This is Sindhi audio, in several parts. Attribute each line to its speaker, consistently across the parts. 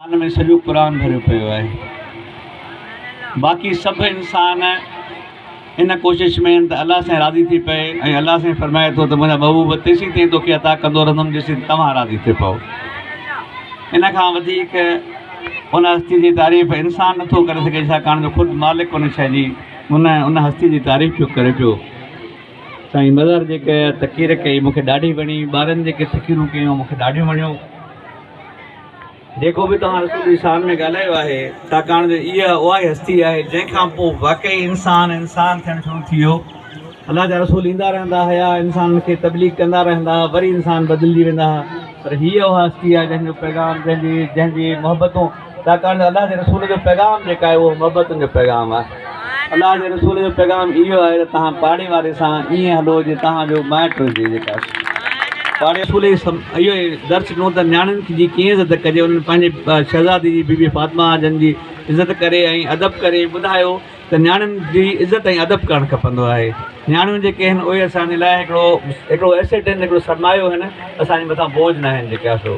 Speaker 1: ان ۾ سڄو قرآن ڀريو پيو آهي. باقي سڀ انسان ان ڪوشش ۾ آهن ته الله سائين راضي ٿي پئي ۽ الله سائين فرمائي ٿو ته منهنجا محبوب تيسين تائين توکي عطا ڪندو رهندم جيسين توهان راضي ٿي پئو. ان کان وڌيڪ ان هستي جي تعريف انسان نٿو ڪري سگهي ڇاڪاڻ جو خود مالڪ ان شيء جي ان ان هستي جي تعريف پيو ڪري پيو. سائين مظهر جيڪا تقرير ڪئي مونکي ڏاڍي وڻي ٻارن جيڪي تقريرون ڪيون مونکي ڏاڍيون وڻيون. جيڪو به توهان رسول جي شان ۾ ڳالهايو آهي، ڇاڪاڻ جو اها اهائي هستي آهي، جنهن کان پوء واقعي انسان انسان ٿيڻ شروع ٿي ويو. الله جا رسول ايندا رهندا هيا، انسانن کي تبليغ ڪندا رهندا ها، وري انسان بدلجي ويندا ها، پر هيء اها هستي آهي، جنهن جو پيغام، جنهن جي جنهن جي محبتون، ڇاڪاڻ جو الله جي رسول جو پيغام جيڪا آهي، اهو محبتن جو پيغام آهي. الله جي رسول جو پيغام اهو آهي ته توهان پاڙي واري سان ائين هلو جيئن توهان جو مائٽ هجي جيڪا پاڙي رسول اهو درس ڏنو ته نياڻين جي ڪيئن عزت ڪجي انهن پنهنجي شهزادي جي بي بي فاطمه جن جي عزت ڪري ۽ ادب ڪري ٻڌايو ته نياڻين جي عزت ۽ ادب ڪرڻ کپندو آهي نياڻيون جيڪي آهن اهي اسان جي لاء هڪڙو هڪڙو ايسيٽ آهن هڪڙو سرمايو آهن اسان جي مٿان بوجھ ناهن جيڪا سو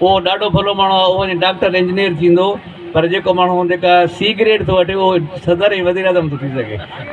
Speaker 1: اهو ڏاڍو ڀلو ماڻهو آهي، اهو وڃي ڊاڪٽر انجنيئر ٿيندو پر جيڪو ماڻهو جيڪا سيگريٽ ٿو وٺي اهو صدر ۽ وزيراعظم ٿو ٿي سگهي.